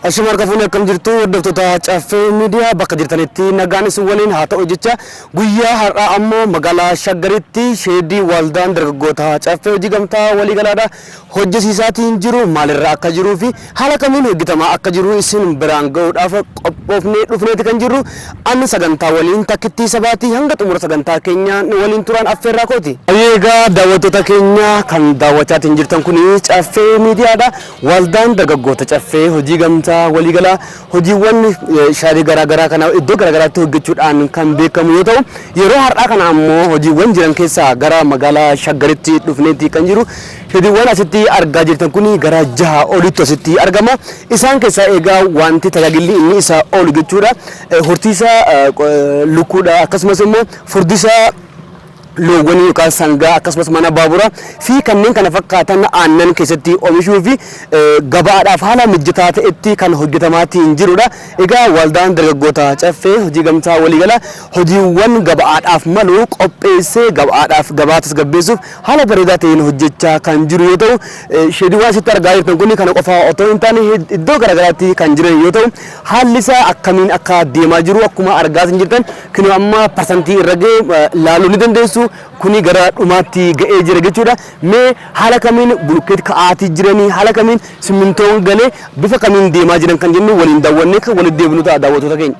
Ashama harka fuune akkam jirtu hordoftoota Caffee Miidiyaa bakka jirtanitti nagaan isin waliin haa ta'u jecha guyyaa har'aa ammoo magaalaa Shaggaritti sheedii waldaan dargaggoota Caffee hojii gamtaa waliigalaadha hojjesiisaatiin jiru maalirra akka jiruu fi haala kamiin hojjetamaa akka jiru isin biraan ga'uudhaaf qophoofnee dhufneeti kan jirru ani sagantaa waliin takkittii sabaatii hanga xumura sagantaa keenyaa nu waliin turaan affeerraa kooti. Egaa daawwattoota keenya kan daawwachaatiin jirtan kun Caffee Miidiyaadha. Waldaan Dargaggoota Caffee hojii gamtaa waliigalaa hojiiwwan shaarii garaa garaa kana iddoo garaa garaatti hojjechuudhaan kan beekamu yoo ta'u, yeroo har'aa kana ammoo hojiiwwan jiran keessaa gara magaalaa Shaggaritti dhufneeti kan jiru. Hojiiwwan asitti argaa jirtan kun gara jaha olitti asitti argama. Isaan keessaa egaa wanti tajaajilli inni isa oolu jechuudha. Horsiisa lukkuudha akkasumas immoo furdisa loowwanii yookaan sangaa akkasumas mana baabura fi kanneen kana fakkaatan aannan keessatti omishuu fi gabaadhaaf haala mijataa ta'etti kan hojjetamaatii hin jirudha. Egaa waldaan dargaggoota caffee hojii gamtaa waliigala hojiiwwan gabaadhaaf malu qopheessee gabaadhaaf gabaa tasgabbeessuuf haala bareedaa ta'een hojjechaa kan jiru yoo ta'u sheediiwwan asitti argaa jirtan kun kana qofaa otoo hin taane iddoo garaagaraatti kan jiran yoo ta'u haalli isaa akkamiin akka deemaa jiru akkuma argaa jirtan Kinoo amma parsantii irra ga'e ilaaluu ni dandeessu. Kuni gara dhumaatti ga'ee jira jechuudha. Mee haala kamiin bulukkeet ka'aatii jiranii, haala kamiin simmintoon galee bifa kamiin deemaa jiran kan jennu waliin daawwannee kan walitti deebinu ta'a daawwattoota keenya.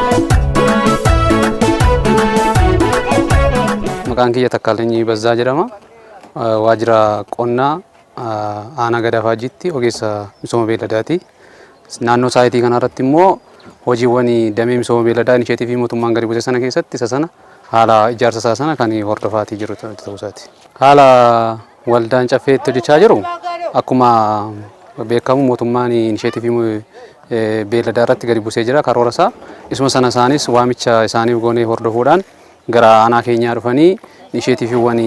Maqaan kiyya Takkaalinyi Bazzaa jedhama. Waajjira qonnaa aanaa Gadaa Faajjiitti ogeessa misooma beelladaati. Naannoo saayitii kanarratti immoo hojiiwwan damee misooma beelladaa inisheetiivii mootummaan gadi buuse sana keessatti isa sana haala ijaarsa isaa sana kan hordofaatii jiru ta'uu isaati. Haala Waldaan Caffee itti hojjechaa jiru akkuma beekamu mootummaan inisheetivii beelladaa irratti gadi buusee jira karoora isaa. Isuma sana isaanis waamicha isaaniif goonee hordofuudhaan gara aanaa keenyaa dhufanii inisheetiviiwwan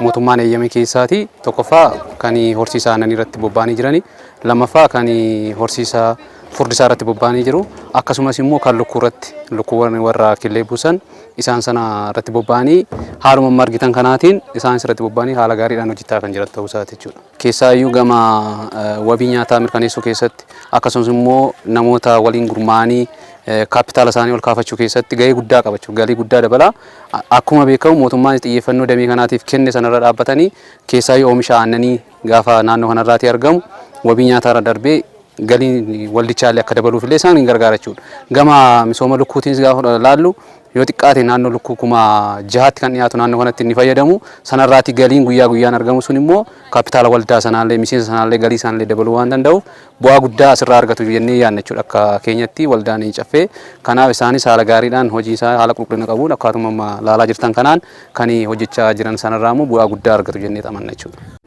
mootummaan eeyyame keessaati. Tokkoffaa kan horsiisa aannanii irratti bobba'anii jirani. Lammaffaa kan horsiisa furdisaa irratti bobba'anii jiru. Akkasumas immoo kan lukkuu irratti lukkuuwwan warra killee buusan isaan sana irratti bobba'anii haaluma amma argitan kanaatiin isaanis irratti bobba'anii haala gaariidhaan hojjechaa kan jiran ta'uu isaati jechuudha. Keessaayyuu gama wabii nyaataa mirkaneessuu keessatti akkasumas immoo namoota waliin gurmaa'anii kaappitaala isaanii ol kaafachuu keessatti gahee guddaa qabachuu galii guddaa dabala. Akkuma beekamu mootummaan xiyyeeffannoo damee kanaatiif kenne sanarra dhaabbatanii keessaayyuu oomisha aannanii gaafa naannoo kanarraatii argamu wabii nyaataa irra darbee Galiin waldichaallee akka dabaluuf illee isaan hin gargaara jechuudha. Gama misooma lukkuutiinis gaafa laallu yoo xiqqaate naannoo lukkuu kuma jahaatti kan dhiyaatu naannoo kanatti inni fayyadamu sanarraati galiin guyyaa guyyaan argamu sun immoo kaapitaala waldaa sanaallee miseensa sanaallee galii isaanillee dabaluu waan danda'uuf bu'aa guddaa asirraa argatu jennee yaadna jechuudha akka keenyatti waldaan caffee kanaaf isaanis haala gaariidhaan hojii isaa haala qulqullina qabuun akkaatuma laalaa jirtan kanaan kan hojjechaa jiran sanarraa immoo bu'aa guddaa argatu jennee xamanna jechuudha.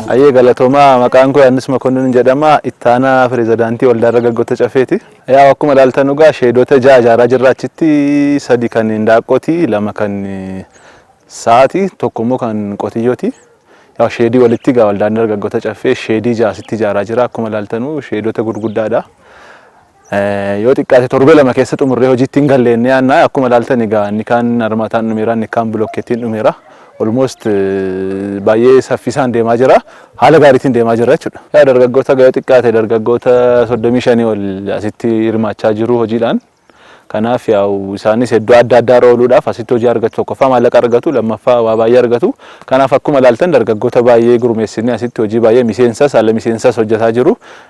Hayyee galatoomaa maqaan koo Yohaannis Makonnin jedhama ittaanaa pirezidaantii waldaa dargaggoota cafeeti. Yaa akkuma ilaaltan dhugaa sheedoota ja'a ijaaraa jirra achitti sadi kan hindaaqqooti lama kan sa'aati tokko immoo kan qotiyyooti. Yaa sheedii walitti gaa waldaan dargaggoota caffee sheedii ja'a asitti ijaaraa jira akkuma ilaaltanu sheedoota gurguddaadha. Yoo xiqqaate torbee lama keessa xumurree hojiitti hin galle inni yaannaa akkuma ilaaltan egaa inni kaan armataan dhumeera inni kaan bilokkeettiin dhumeera. Olmoost baay'ee saffisaan deemaa jira. Haala gaariitiin deemaa jira jechuudha. Yaa dargaggoota ga'ee xiqqaate dargaggoota 35 ol asitti hirmaachaa jiru hojiidhaan. Kanaaf yaa'u isaanis iddoo adda addaa irra ooluudhaaf asitti hojii argatu tokkoffaa maallaqa argatu lammaffaa waa baay'ee argatu. Kanaaf akkuma ilaaltan dargaggoota baay'ee gurmeessinee asitti hojii baay'ee miseensas ala miseensas hojjetaa jiru.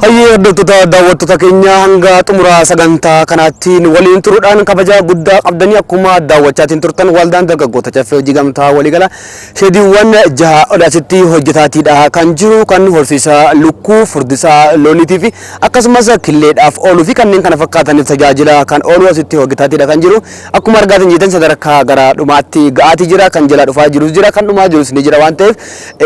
Hayyee hordoftoota daawwattoota keenya hanga xumura sagantaa kanaatti nu waliin turuudhaan kabaja guddaa qabdanii akkuma daawwachaatiin turtan waldaan dargaggoota caffee hojii gamtaa waliigala sheediiwwan jaha ol asitti hojjetaatiidha kan jiru kan horsiisa lukkuu furdisaa looniitii fi akkasumas killeedhaaf ooluu fi kanneen kana fakkaataniif tajaajila kan oolu asitti hojjetaatiidha kan jiru akkuma argaatiin jeetan sadarkaa gara dhumaatti ga'aatii jira kan jalaa dhufaa jirus jira kan dhumaa jirus ni jira waan ta'eef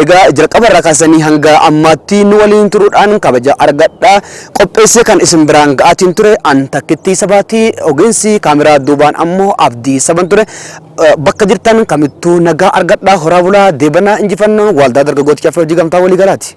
Egaa jalqaba irraa kaastanii hanga ammaatti nu waliin turuudhaan kabaja argadhaa. Qopheessee kan isin biraan ga'aatiin ture an takkittii sabaati. Ogeessi kaameraa duubaan ammoo abdii saban ture. Eh, Bakka jirtan kamittuu nagaa argadhaa horaa bulaa deebanaa injifannoon waaldaa dargaggoota caffee hojii gamtaa walii galaati.